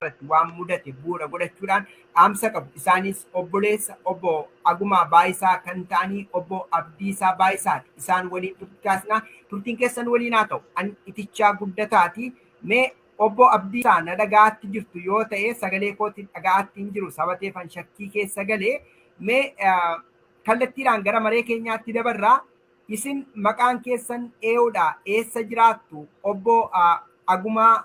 irratti waan mudate bu'uura godhachuudhaan dhaamsa qabu. Isaanis obboleessa obbo Agumaa Baayisaa kan ta'anii obbo Abdiisaa Baayisaati. Isaan waliin turtii taasisna. Turtiin keessan waliin haa ta'u. An itichaa guddataati. Mee obbo Abdiisaa na dhaga'aatti jirtu yoo ta'e sagalee kootiin dhaga'aatti hin jiru sabateefan shakkii keessa gale. Mee kallattiidhaan gara maree keenyaatti dabarraa isin maqaan keessan ee'uudha eessa jiraattu obbo Agumaa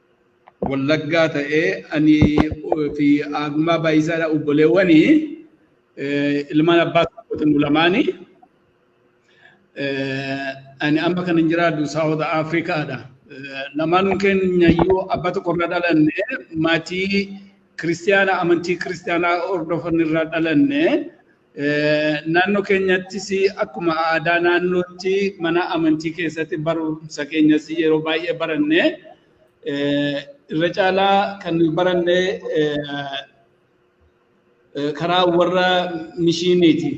Wallaggaa ta'ee ani fi Aagumaa Baay'isaadha obboleewwani ilmaan abbaa tokkooti nu lamaani. Ani amma kan hin jiraadhu Saawuth Afrikaadha. Lamaanuun keenya iyyuu abbaa tokko irraa dhalanne maatii kiristiyaanaa amantii kiristiyaanaa hordofan irraa dhalanne. Naannoo keenyattis akkuma aadaa naannootti mana amantii keessatti barumsa keenyas yeroo baay'ee baranne irra caalaa kan nuyi baranne karaa warra mishiiniiti.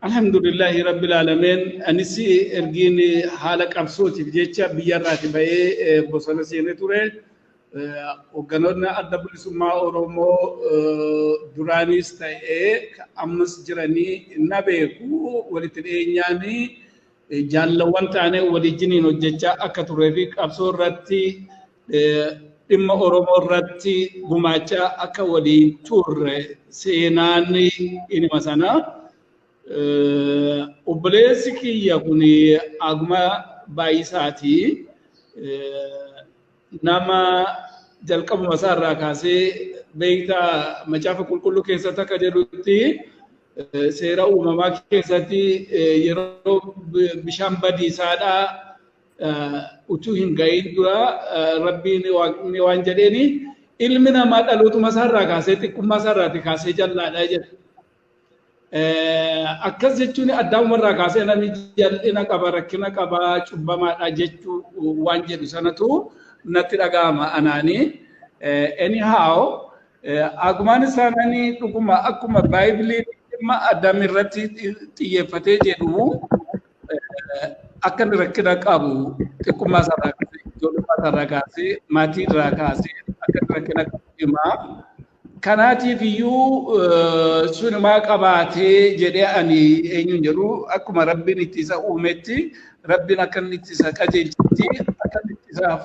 Alhamdulillahi rabbil aalameen anis ergiin haala qabsootiif jecha biyyarraati ba'ee bosona seenee ture. Hogganoonni adda bilisummaa Oromoo duraaniis ta'ee ammas jiranii na beeku walitti dhiyeenyaan jaallawwan taanee waliijiniin hojjechaa akka turee fi qabsoo irratti dhimma Oromoo irratti gumaachaa akka waliin turre seenaan inuma sana. Obboleessi kiyya kun Aguma Baay'isaati. nama jalqabuma isaa irraa kaasee beekta macaafa qulqulluu keessatti akka jedhutti seera uumamaa keessatti yeroo bishaan badiisaadhaa utuu hin ga'iin dura rabbiin waaqni waan jedheeni ilmi namaa dhalootuma isaarraa kaasee xiqqummaa isaarraati kaasee jallaadha jedha. Akkas jechuun addaamumarraa kaasee namni jal'ina qaba, rakkina qaba, cubbamaadha jechuu waan jedhu sanatu natti dhaga'ama anaani. Anyhow, agumaan isaa nani dhuguma akkuma baay'ee dhimma Adam irratti xiyyeeffatee jedhu akka inni rakkina qabu xiqqummaa isaa irraa kaasee, ijoollummaa isaa irraa kaasee, maatii irraa kaasee akka inni rakkina qabu himaa. Kanaatiif iyyuu sunumaa qabaatee jedhee ani eenyuun jedhu akkuma rabbiin itti isa uumetti rabbiin akka inni itti isa qajeelchetti akka inni itti isaaf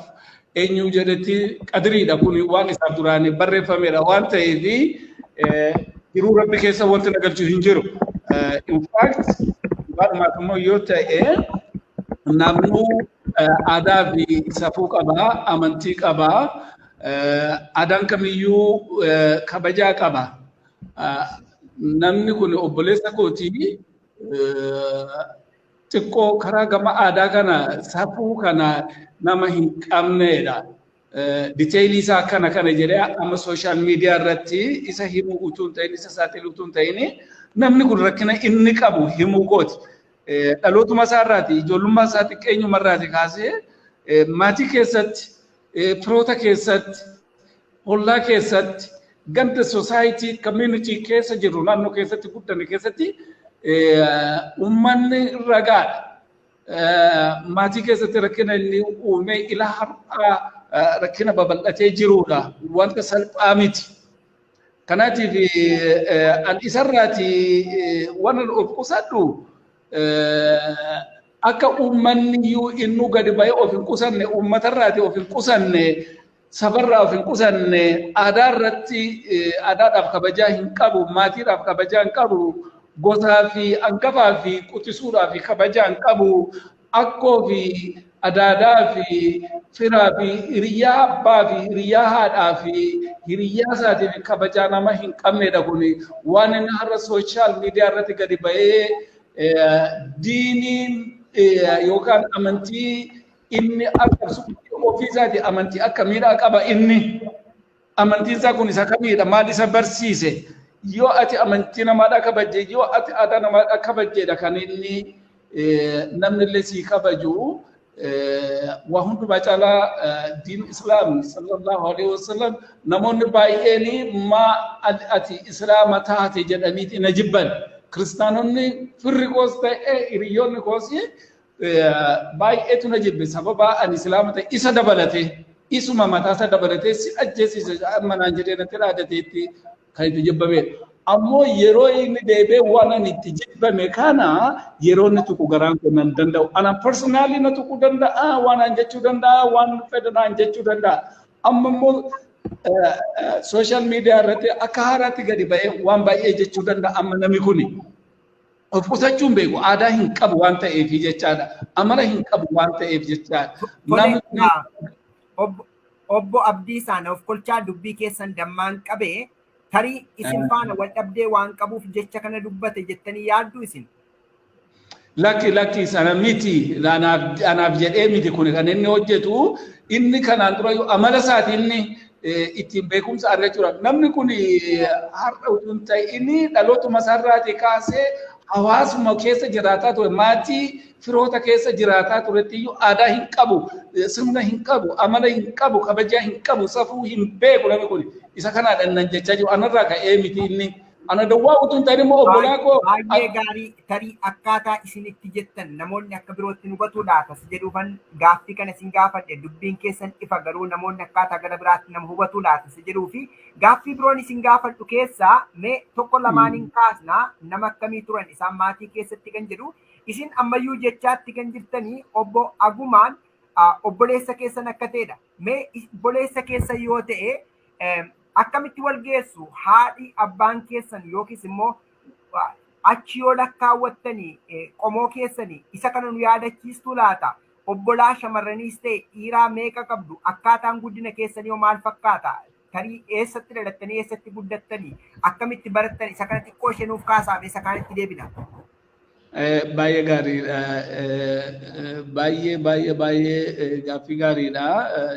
eenyuu jedhetti qadiriidha kun waan isaaf duraan barreeffamedha waan ta'eef jiruu rabbi keessa wanti na galchu hin jiru. In fact walumaaf immoo yoo ta'e namnuu aadaa fi safuu qabaa amantii qabaa Aadaan kamiyyuu kabajaa qaba. Namni kun obboleessa kooti xiqqoo karaa gama aadaa kana safuu kana nama hin qabneedha. Diteelii isaa kana kana jedhee amma sooshaal miidiyaa irratti isa himuu utuu hin ta'in isa saaxilu utuu hin ta'in namni kun rakkina inni qabu himuu kooti. Dhalootuma isaa irraati ijoollummaa isaa xiqqeenyuma irraati kaasee maatii keessatti Firoota keessatti, hollaa keessatti, ganda society community keessa jirru naannoo keessatti guddanne keessatti uummanni ragaadha. Maatii keessatti rakkina inni uumee ila har'aa rakkina babal'atee jirudha. Wanta salphaa miti. Kanaatiif an isarraati waan of qusadhu akka uummanni iyyuu innuu gadi ba'ee of hin qusanne uummatarraati of hin qusanne sabarraa of hin qusanne aadaa irratti aadaadhaaf kabajaa hin qabu maatiidhaaf kabajaa hin qabu gosaa fi angafaa fi quxisuudhaa fi kabajaa hin qabu akkoo fi adaadaa fi firaa fi hiriyyaa abbaa fi hiriyyaa haadhaa fi hiriyyaa isaatiif kabajaa nama hin qabnedha kun waan inni har'a sooshaal miidiyaa irratti gadi ba'ee diiniin yookaan amantii inni arrabsu ofii isaati amantii akka miidhaa qaba inni Amantiin isaa kun isa kamiidha? Maal isa barsiise? Yoo ati amantii namaadhaa kabajje, yoo ati aadaa namaadhaa kabajjeedha kan inni namni illee sii kabaju. Waa hundumaa caalaa diin Islaam sallallahu alaihi wasallam namoonni baay'een maa ati Islaama taate jedhanii na jibban. Kiristaanonni firri koos ta'e hiriyoonni koos baay'eetu na jibbe sababa ani islaama ta'e isa dabalatee isuma mataa isa dabalatee si ajjeesise amma naan jedhee natti dhaadateetti kan itti jibbamee ammoo yeroo inni deebee waan ani itti jibbame kana yeroo inni tuqu garaan kun nan danda'u ana personaalii na tuquu danda'a waan aan jechuu danda'a waan fedha naan jechuu danda'a amma immoo sooshaal miidiyaa irratti akka haaraatti gadi ba'ee waan baay'ee jechuu danda'a amma namni kuni. Of qusachuun beeku aadaa hin qabu waan ta'eef jechaadha. Amala hin qabu waan ta'eef jechaadha. Namni Obbo Abdiisaan of kolchaa dubbii keessan dammaan qabee tarii isin faana wal dhabdee waan qabuuf jecha kana dubbate jettanii yaaddu isin. Lakki lakki sana miti anaaf jedhee miti kun kan inni hojjetu inni kanaan dura amala isaati inni ittiin beekumsa argachuu turan. Namni kun har'a utuu hin ta'in dhalootuma isaarraatii kaasee hawaasuma keessa jiraataa ture maatii firoota keessa jiraataa turetti iyyuu aadaa hin qabu sirna hin qabu amala hin qabu kabajaa hin qabu safuu hin beeku namni kun isa kanaadhaan nan jechaa jiru anarraa ka'ee miti inni Ana dawwaa utuu hin ta'in immoo obbolaa koo Baay'ee gaarii tarii akkaataa isin itti jettan namoonni akka birootti nu batuu laata si jedhuufan gaaffii kana isin gaafadhe dubbiin keessan ifa garuu namoonni akkaataa gara biraatti nama hubatuu laata si jedhuu fi gaaffii biroon isin gaafadhu keessaa mee tokko lamaaniin kaasna nama akkamii turan isaan maatii keessatti kan jedhu isin ammayyuu jechaatti kan jirtanii obbo Agumaan ah, obboleessa keessan akka ta'edha mee is- obboleessa keessa yoo ta'e akkamitti wal geessu haadhi abbaan keessan yookiis immoo achi yoo lakkaawwattanii qomoo keessanii isa kana nu yaadachiistuu laata obbolaa shamarraniis ta'e dhiiraa meeqa qabdu akkaataan guddina keessanii hoo maal fakkaata tarii eessatti dhalattanii eessatti guddattanii akkamitti barattan isa kana xiqqoo ishee nuuf kaasaame isa kaanitti deebina. Baay'ee gaariidha. Baay'ee baay'ee baay'ee gaaffii gaariidha.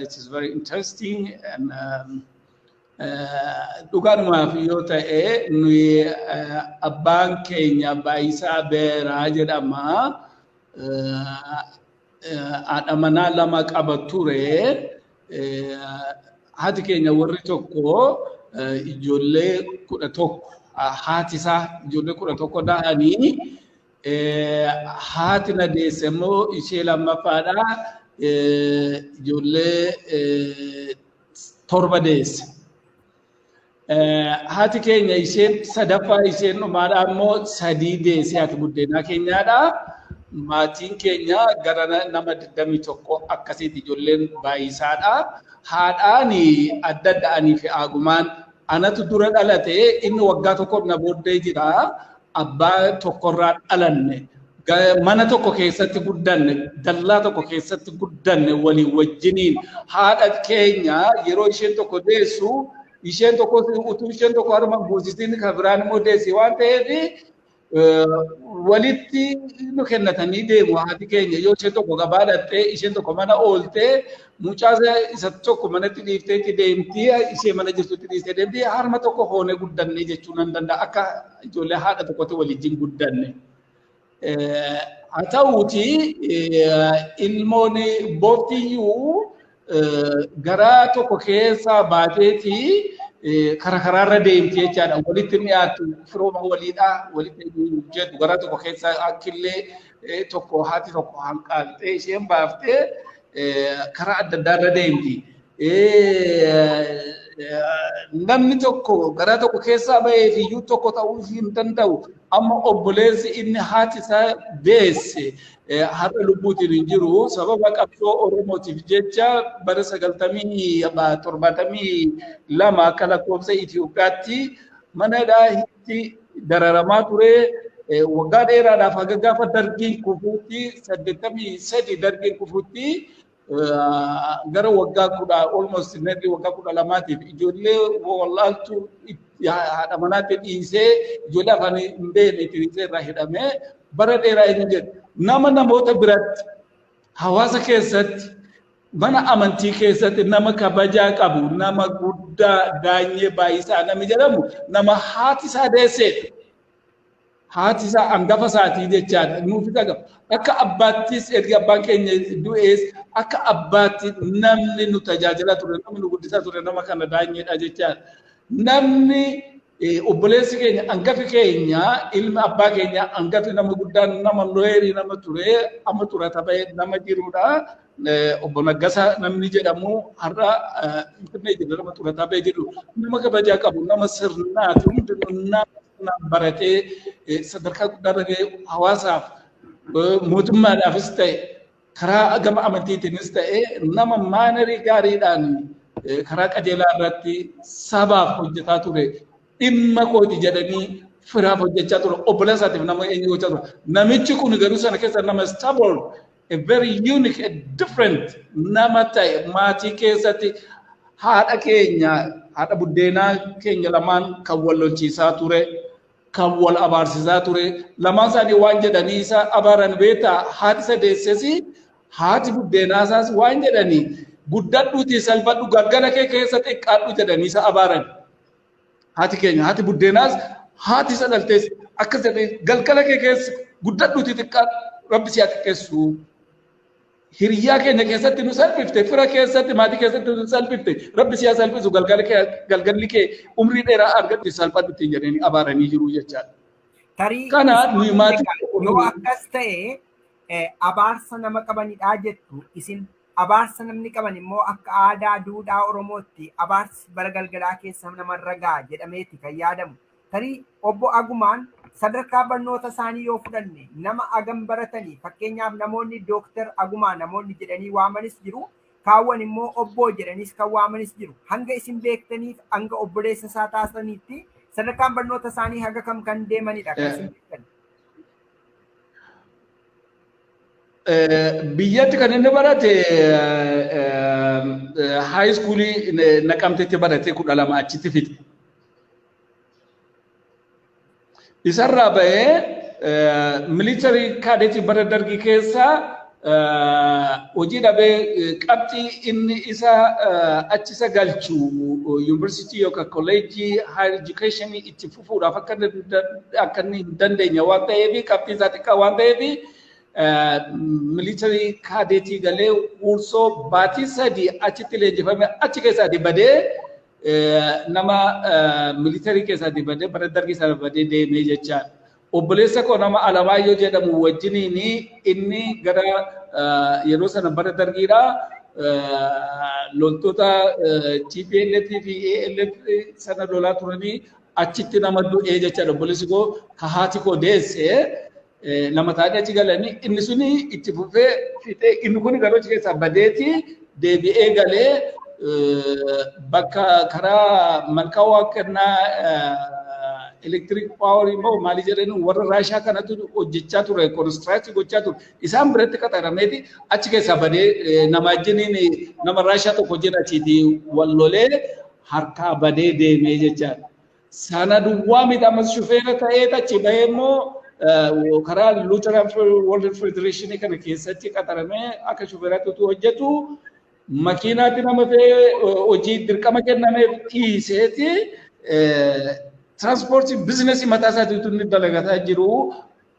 It is very interesting. And, um, dhugaadhumaaf yoo ta'e nuyi abbaan keenya baay'isaa beeraa jedhama. haadha manaa lama qaba ture. Haati keenya warri tokko ijoollee kudha tokko haati isaa ijoollee kudha tokko da'anii haati na deesse immoo ishee lammaffaadha ijoollee torba deesse. Haati keenya isheen sadaffaa isheen dhumaadha immoo sadii deesee haati buddeenaa keenyaadha. Maatiin keenya gara nama 21 akkasiiti ijoolleen baay'isaadha. Haadhaan adda adda anii fi aagumaan anatu dura dhalate inni waggaa tokko na booddee jira. Abbaa tokkorraa dhalanne, ga- mana tokko keessatti guddanne, dallaa tokko keessatti guddanne walii wajjiniin haadha keenya yeroo isheen tokko deessu isheen tokko utuu isheen tokko harma hin buusisin kan biraan immoo deessi waan ta'eef eh, walitti nu kennatanii deemu haati keenya yoo isheen tokko gabaa dhaqxee isheen tokko mana ooltee mucaa isa- isa tokko manatti dhiiftee itti deemti ishee mana jirtutti dhiistee deemti harma tokko hoonee guddannee jechuu nan danda'a akka ijoollee haadha tokkotti waliin guddanne. Haa ta'uuti ilmoon booftiyyuu garaa tokko keessaa baateeti karaa karaarra deemti jechaadha. Walitti dhiyaatu firooma waliidha. Walitti jedhu garaa tokko keessaa akkillee tokko haati tokko hanqaaltee isheen baaftee karaa adda addaa irra deemti. Namni tokko garaa tokko keessaa bahee fi iyyuu tokko ta'uu hin danda'u. Amma obboleessi inni haati isaa deesse har'a lubbuutiin hin jiru. Sababa qabsoo Oromootiif jecha bara sagaltamii torbaatamii lama akka lakkoofsa Itoophiyaatti mana itti dararamaa ture waggaa dheeraadhaaf haga gaafa dargiin kufuutti saddeettamii sadi dargiin kufuutti gara waggaa kudha almost nearly waggaa kudha lamaatiif ijoollee wallaaltu haadha manaatti dhiisee ijoollee afaan hin beekne itti dhiisee irraa hidhamee bara dheeraa hin jedhu nama namoota biratti hawaasa keessatti Mana amantii keessatti nama kabajaa qabu, nama guddaa Daanyee Baay'isaa nami jedhamu nama haati isaa deesseedha. Haati isaa hangafa isaatii jechaadha. Nuufis akka akka abbaattis erga abbaan keenya du'ees akka abbaatti namni nu tajaajilaa ture, namni nu guddisaa ture nama kana Daanyeedha jechaadha. Namni Obboleessi keenya angafi keenya ilmi abbaa keenya angafi nama guddaan nama looyerii nama ture amma xurata ba'e nama jirudha. Obbo Naggasa namni jedhamu har'a Finfinnee jira nama xurataa ba'e jedhu nama kabajaa qabu nama sirnaati hundi nama baratee sadarkaa guddaa irra ga'e hawaasaaf mootummaadhaafis ta'e karaa gama amantiitiinis ta'ee nama maanarii gaariidhaan karaa qajeelaa irratti sabaaf hojjetaa ture dhimma kooti jedhanii firaaf hojjechaa ture obbola isaatiif nama eenyu gochaa ture namichi kun garuu sana keessa nama stubborn a very unique a different nama ta'e maatii keessatti haadha keenya haadha buddeenaa keenya lamaan kan wal lolchiisaa ture kan wal abaarsisaa ture lamaan isaanii waan jedhanii isa abaaran beektaa haati isa deessesi haati buddeenaa isaas waan jedhanii guddadhuutii salphadhu galgala kee keessa xiqqaadhu jedhanii isa abaaran haati keenya haati buddeenaas haati isa dhaltees akkas jedhee galgala kee keessa guddadhuutii xiqqaadhu rabbi si haa xiqqeessu Hiriyaa keenya keessatti nu salphifte, fira keessatti, maatii keessatti nu salphifte. Rabbi siya salphisu galgalli kee galgalli kee umrii dheeraa argadhu salphadhu ittiin jedhanii abaaranii jiru jechaadha. Tarii Kana isin nuyi maatii egaa tokko yoo qofa akkas ta'e eh, abaarsa nama qabanidhaa jettu isin abaarsa namni qaban immoo akka aadaa duudhaa Oromootti abaarsi bara galgalaa keessa namarra ga'a jedhameeti kan yaadamu. Tarii Obbo Agumaan sadarkaa barnoota isaanii yoo fudhanne nama agam baratani fakkeenyaaf namoonni Dooktar Agumaa namoonni jedhanii waamanis jiru kaawwan immoo Obboo jedhaniis kan waamanis jiru. Hanga isin beektaniif hanga obboleessa isaa taasisaniitti sadarkaan barnoota isaanii haga kam kan deemanidha kan isin beektan? Biyyatti kan inni barate haayiskuulii naqamtetti barate kudha lama achitti fixe. Isarraa bahee militarii kaadetii bara dargii keessa hojii dhabee qabxii inni isa achisa galchu yuunivarsiitii yookaan kolleejjii haayir edukeeshinii itti fufuudhaaf akka akka inni hin dandeenye waan ta'eef qabxii isaa xiqqaa waan ta'eef militarii kaadetii galee uursoo baatii sadii achitti leenjifame achi keessaa badee nama militarii keessaatii badee bara dargii sana badee deemee jechaa obboleessa koo nama Alamaayyoo jedhamu wajjiniin inni gara yeroo sana bara dargiidha loltoota TPLF fi ALF sana lolaa turanii achitti nama du'ee jechaadha obboleessi koo ka haati koo deesse lama ta'anii achi galanii inni suni itti fufee fixee inni kun garuu achi keessaa badeeti deebi'ee galee bakka karaa malkaa waan kennaa elektiriik paawarii moo maalii jedhanii warra raashaa kanatu hojjechaa ture konistiraaktii gochaa ture isaan biratti qaxarameeti achi keessaa badee nama ajjiniin nama raashaa tokko wajjin achiiti wal lolee harkaa badee deemee jechaadha. Sana duwwaa miti ammas shufeera ta'ee achi bahee immoo karaa Lutheran World Federation kana keessatti qaxaramee akka shufeeraatti utuu hojjetu makiinaatti nama fe'ee hojii dirqama kennameef dhiiseeti tiraanspoortii biizinasii mataa isaatii utuu inni dalagataa jiru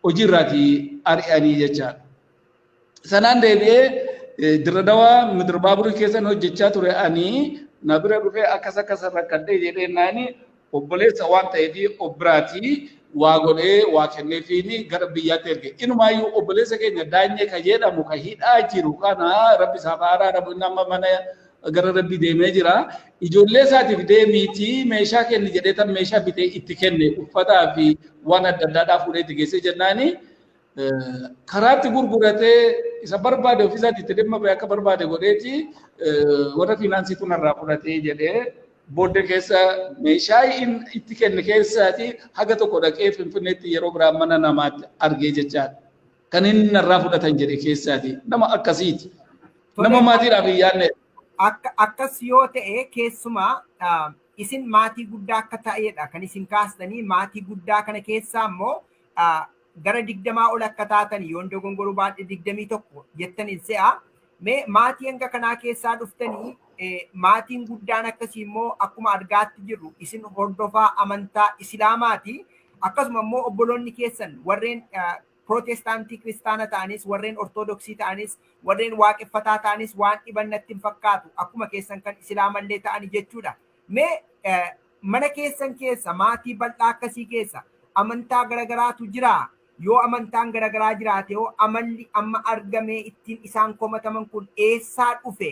hojii irraatii ari'anii jechaadha. Sanaan deebi'ee Dirre Dawaa Midir Baaburii keessan hojjechaa ture ani na bira dhufee akkas akkas rakkadhee jedhee naani obboleessa waan ta'eef of biraatii waa godhee waa kenneefiin gara biyyaatti erge. Inumaayyuu obboleessa keenya daanyee ka jedhamu ka hidhaa jiru kana rabbi isaaf haa araaramu inni amma mana gara rabbi deemee jira. Ijoollee isaatiif deemiitii meeshaa kenni jedhee tan meeshaa bitee itti kenne uffataa fi waan adda addaadhaa fuudhee itti geessee jennaanii karaatti gurguratee isa barbaade ofiisaatti itti dhimma ba'e akka barbaade godheeti warra fiinaansii kun irraa fudhatee jedhee booddee keessa meeshaa itti kenne keessaati haga tokko dhaqee finfinneetti yeroo biraa mana namaatti argee jechaadha. Kan inni narraa fudhatan jedhe keessaati nama akkasiiti. Nama maatiidhaaf hin yaadne. Akkas yoo ta'e keessumaa isin maatii guddaa akka ta'edha kan isin kaastanii maatii guddaa kana keessaa immoo gara digdamaa ol akka taatan yoon dogongoru baadhe digdamii tokko jettan hin se'a. Mee maatii hanga kanaa keessaa dhuftanii maatiin guddaan akkasii immoo akkuma argaatti jirru isin hordofaa amantaa Isilaamaati. Akkasuma immoo obboloonni keessan warreen pirootestaantii kiristaana ta'anis warreen ortodoksii ta'anis warreen waaqeffataa ta'anis waan dhiban natti hin fakkaatu akkuma keessan kan isilaamallee ta'ani jechuudha. Mee Mana keessan keessa, maatii bal'aa akkasii keessa, amantaa garagaraatu jiraa? Yoo amantaan garagaraa jiraate hoo amalli amma argamee ittiin isaan komataman kun eessaa dhufe?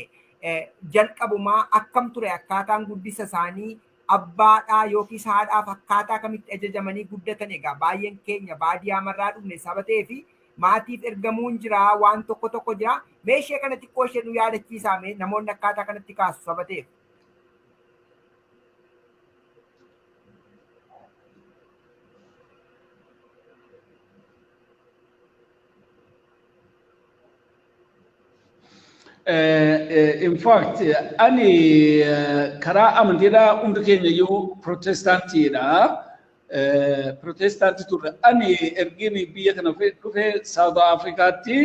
Jalqabumaa akkam ture akkaataan guddisa isaanii? Abbaadhaa yookiis haadhaaf akkaataa kamitti ajajamanii guddatan? Egaa baay'een keenya baadiyaa marraa dhufne saba ta'eef maatiif ergamuun jira, waan tokko tokko jira. Mee ishee kana xiqqoo ishee nu yaadachiisaa mee namoonni akkaataa kanatti kaasu saba ta'eef. in fact ani karaa amantiidhaa hundi keenya iyyuu pirootestaantiidha. Pirootestaantii turre. Ani ergiin biyya kana dhufe Saawud Afrikaatti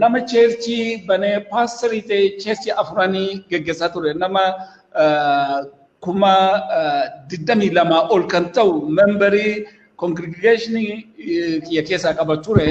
nama cheerchii banee paasterii ta'e cheerchii afuranii geggeessaa ture. Nama kuma digdamii lamaa ol kan ta'u membarii kongirigeeshinii kiyya keessaa qaba ture.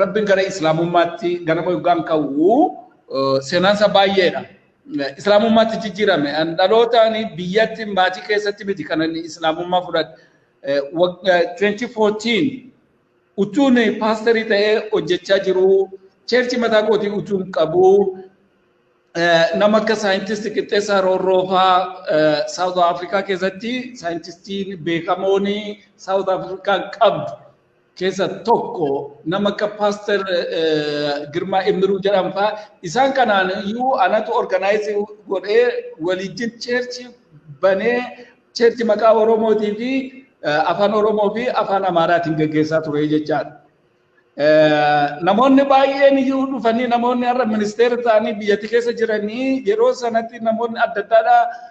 Rabbiin gara Islaamummaatti ganama yoggaan ka'u seenaansa baay'eedha. Islaamummaatti jijjiirame. Dhalootaan biyyatti maatii keessatti miti kan inni Islaamummaa fudhate. 2014 utuun paasterii ta'ee hojjechaa jiru cheerchi mataa kootii utuun qabu nama akka saayintisti qixxeessaa roorroofaa Saawuth Afrikaa keessatti saayintistiin beekamoon Saawuth Afrikaa qabdu keessa tokko nama akka paaster Girmaa Immiruu jedhan faa isaan kanaan iyyuu anatu organaayizii godhee waliijjin cheerchi banee cheerchi maqaa Oromootii fi afaan Oromoo fi afaan Amaaraatiin gaggeessaa ture jechaadha. Namoonni baay'een iyyuu dhufanii namoonni har'a ministeera ta'anii biyyatti keessa jiranii yeroo sanatti namoonni adda addaadhaa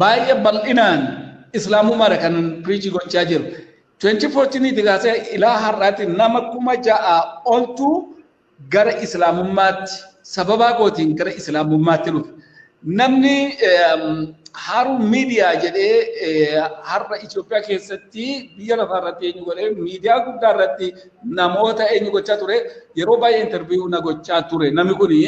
baay'ee bal'inaan islaamumaadha kan piriichii gochaa jiru. 2014 ti kaasee ilaa har'aatti nama kuma ja'a oltu gara islaamummaatti sababaa kootiin gara islaamummaatti dhufe. Namni haaruu miidiyaa jedhee har'a Itoophiyaa keessatti biyya lafaa irratti eenyu godhee miidiyaa guddaa irratti namoota eenyu gochaa ture yeroo baay'ee interviiyuu na gochaa ture namni kuni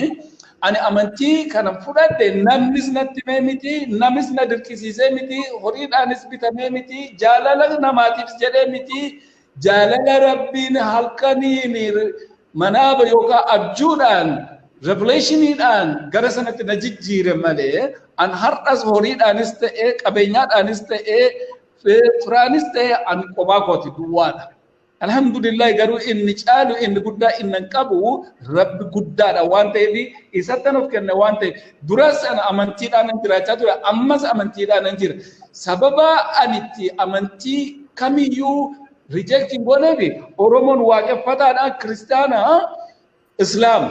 Ani amantii kanan fudhadhe namnis natti himee miti, namis na dirqisiisee miti, horiidhaanis bitamee miti, jaalala namaatiifis jedhee miti, jaalala Rabbiin halkaniin manaaba yookaan abjuudhaan revelationiidhaan gara sanatti na jijjiire malee an har'as horiidhaanis ta'ee qabeenyaadhaanis ta'ee firaanis ta'ee an qophaa kooti duwwaadha. Alhamdulillahi garuu inni caalu inni guddaa innan qabu rabbi guddaadha waan ta'eef isattan of kenna waan ta'eef duras ana amantiidhaan nan jiraachaa ture ammas amantiidhaan nan jira sababa ani itti amantii kamiyyuu reject hin gooneef oromoon waaqeffataadha kiristaana islaama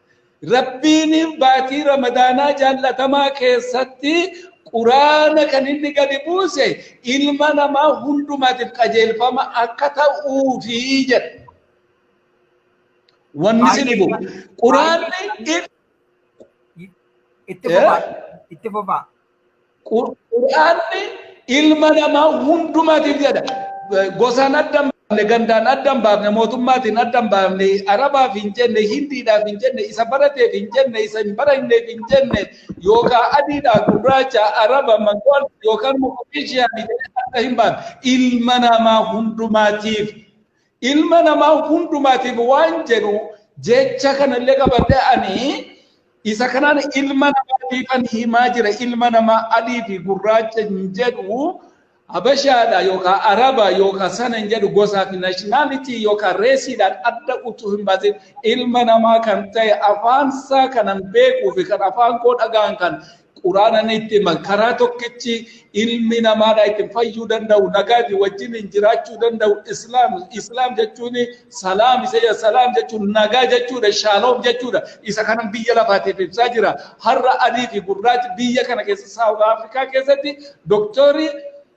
Rabbiin baatii Ramadaanaa jaallatamaa keessatti Quraana kan inni gadi buuse ilma namaa hundumaatiif qajeelfama akka ta'uufi jedha. Wanni isin Baay'ee dhibu. baay'ee Quraanni baay'ee itti fufaa itti fufaa Qur'aanni ilma namaa hundumaatiif jedha. Gosaan adda hin baafne, gandaan adda hin baafne, mootummaatiin adda hin baafne, Arabaaf hin jenne, Hindiidhaaf hin jenne, isa barateef hin jenne, isa hin baranneef hin jenne, yookaan adiidhaa gurraacha, Araba, Mangool yookaan Moqonishiyaa jedhee adda hin baafne. Ilma namaa hundumaatiif Ilma namaa hundumaatiif waan jedhu jecha kanallee qabadhee ani isa kanaan ilma namaatiifan himaa jira ilma namaa adii fi gurraacha hin jedhu habashaadha yookaan araba yookaan sana hin jedhu gosaa fi naashinaalitii yookaan reesiidhaan adda utuu hin baasin ilma namaa kan ta'e afaan isaa kanan beekuu fi kan afaan koo dhagaan kan Quraanaan itti himan karaa tokkichi ilmi namaadhaa ittiin fayyuu danda'u nagaa fi wajjiniin jiraachuu danda'u islaam islaam jechuun salaam isa jedha salaam jechuun nagaa jechuudha shaaloom jechuudha isa kanan biyya lafaatiif ibsaa jira har'a adii fi gurraachi biyya kana keessa saawuth afrikaa keessatti doktorii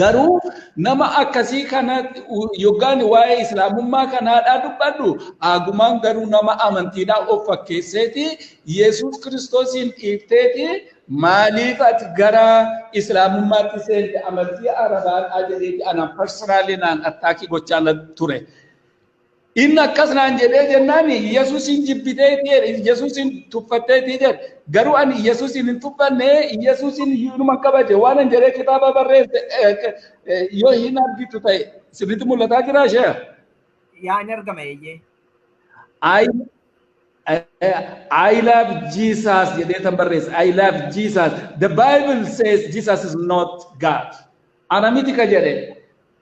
Garuu nama akkasii kana yoggaan waa'ee islaamummaa kanaadhaa dubbadhu aagumaan garuu nama amantiidhaa of fakkeesseeti Yesuus Kiristoosiin dhiifteeti maaliif ati gara islaamummaatti seente amantii arabaadhaa jedheeti anaan parsanaalii naan attaakii gochaa ture. Inni akkas naan jedhee jennaan Iyyasuusiin jibbitee itti jedhe Iyyasuusiin tuffattee itti jedhe garuu ani Iyyasuusiin hin tuffanne Iyyasuusiin hiinuma kabaje waan an jedhee kitaaba barreesse yoo hin argitu ta'e sirriitti mul'ataa jiraa ishee. Yaa hin argama eeyyee. I, I love Jesus jedhee tan barreesse. I love Jesus. The Bible says Jesus is not God. Ana miti ka jedhe.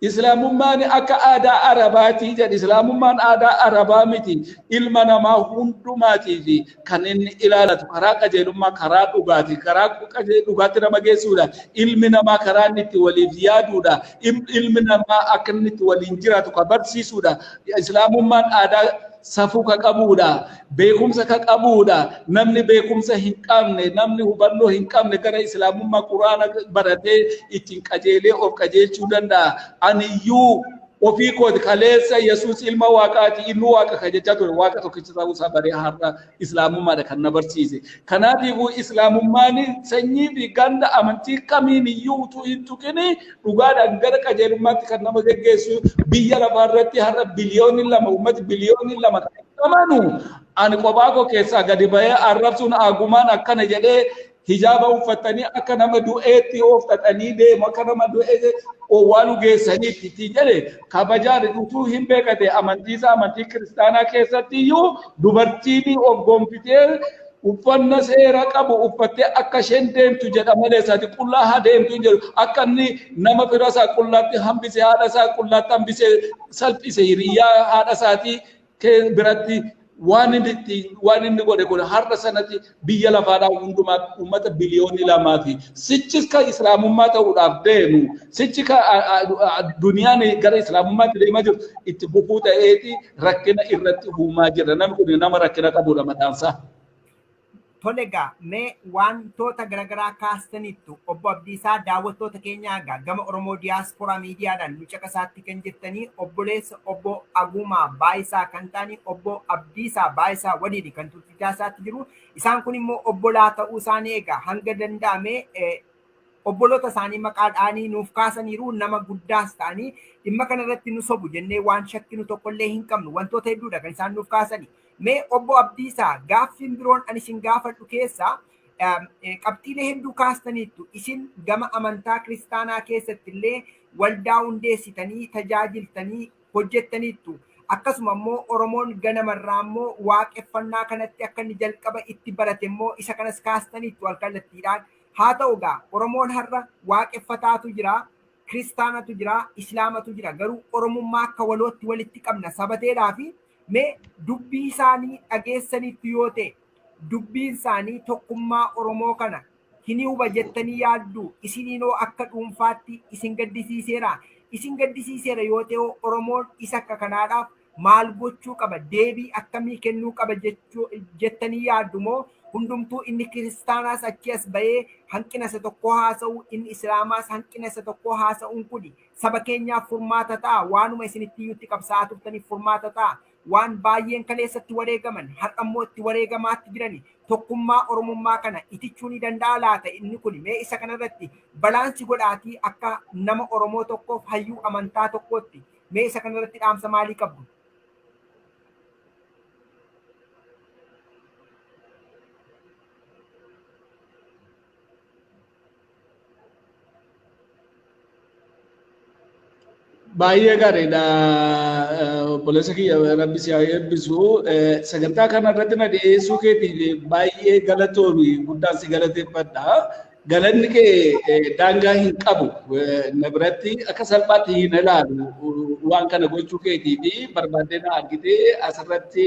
Islaamummaan akka aadaa Arabaati jedhe. Islaamummaan aadaa Arabaa miti. Ilma namaa hundumaatiif kan inni ilaalatu karaa qajeelummaa, karaa dhugaati. Karaa qaje- dhugaatti nama geessuudha. Ilmi namaa karaa inni itti waliif yaaduudha. Im- Ilmi namaa akka inni itti waliin jiraatu kan barsiisuudha. Islaamummaan aadaa safuu kan qabuudha. beekumsa ka qabuudha namni beekumsa hin qabne namni hubannoo hin qabne gara islaamummaa quraana baratee ittiin qajeelee of qajeelchuu danda'a aniyyuu ofii kooti kaleessa yesuus ilma waaqaati inni waaqa ka jechaa ture waaqa tokkicha ta'uu isaa baree har'a islaamummaadha kan na barsiise kanaatiifuu islaamummaan sanyii fi ganda amantii kamiiniyyuu utuu hin tuqini dhugaadhaan gara qajeelummaatti kan nama geggeessu biyya lafaa irratti har'a biliyoonni lama uummati biliyoonni lama kan amanu ani kophaa koo keessaa gadi bahee arrabsuun agumaan akkana jedhee hijaaba uffatanii akka nama du'eetti ooftatanii deemu akka nama du'ee owwaalu geessaniitti itti jedhe kabajaan utuu hin beekate amantiisaa amantii kiristaanaa keessatti iyyuu dubartiin of gonfitee uffanna seera qabu uffattee akka isheen deemtu jedha malee isaati qullaa haa deemtu hin jedhu akka inni nama fira isaa qullaatti hambise haadha isaa qullaatti hambise salphise hiriyyaa haadha isaatii biratti waan inni itti waan inni godhe kun har'a sanatti biyya lafaadhaa hundumaa uummata biliyoonni lamaa fi sichis kan islaamummaa ta'uudhaaf deemu sichi kan duniyaan gara islaamummaatti deemaa jiru itti bufuu ta'eeti rakkina irratti uumaa jira. Namni kun nama rakkina qabudha mataan isaa. Tole egaa mee wantoota garaagaraa kaastaniittu obbo Abdiisaa daawwattoota keenyaa egaa gama Oromoo Diyaaspooraa miidiyaadhaan nu caqasaatti kan jirtanii obboleessa obbo Aguumaa Baayisaa kan ta'anii obbo Abdiisaa Baayisaa waliin kan tursiisaa isaatti jiru. Isaan kun immoo obbolaa ta'uu isaanii egaa hanga danda'ame Obboloota isaanii maqaa dha'anii nuuf kaasaniiru, nama guddaas ta'anii dhimma kana irratti nu sobu jennee waan shakkinu tokko illee hin qabnu. Wantoota hedduu dha kan isaan nuuf kaasani. Mee Obbo Abdiisaa, gaaffiin biroon ani isin gaafadhu keessaa qabxiilee hedduu kaastaniittu. Isin gama amantaa kiristaanaa keessatti illee waldaa hundeessitanii tajaajiltanii hojjettaniittu. Akkasuma immoo Oromoon ganama irraa immoo waaqeffannaa kanatti akka inni jalqaba itti barate immoo isa kanas kaastaniittu alkallattiidhaan. Haa ta'u egaa Oromoon har'a Waaqeffataatu jira, Kiristaanatu jira, Islaamatu jira garuu Oromummaa akka walootti walitti qabna sabateedhaafi mee dubbii isaanii dhageessaniittu yoo ta'e dubbiin isaanii tokkummaa Oromoo kana hin huba jettanii yaadduu? Isiniinoo akka dhuunfaatti isin gaddisiiseeraa? Isin gaddisiiseera yoo ta'e hoo Oromoon isa akka kanaadhaaf maal gochuu qaba, deebii akkamii kennuu qaba jechuu jettanii yaaddu moo hundumtuu inni kiristaanaas achii as ba'ee hanqina isa tokkoo haasa'u, inni islaamaas hanqina isa tokkoo haasa'uun kuni saba keenyaaf furmaata ta'a, waanuma isin itti iyyutti qabsaa'aa turtaniif furmaata ta'a, waan baay'een kaleessatti wareegaman har'a immoo itti wareegamaatti jirani tokkummaa oromummaa kana itichuu ni danda'a laata inni kuni mee isa kanarratti balaansi godhaatii akka nama oromoo tokkoof hayyuu amantaa tokkootti Mee isa kana irratti dhaamsa maalii qabdu? Baay'ee gaariidha. Obboleessa kiyya rabbi si haa eebbisu. Sagantaa kana irratti na dhiyeessuu keetiif baay'ee galatoomi guddaan si galateeffadha. Galanni kee daangaa hin qabu na biratti akka salphaatti hin ilaalu waan kana gochuu keetii fi barbaaddee na argitee asirratti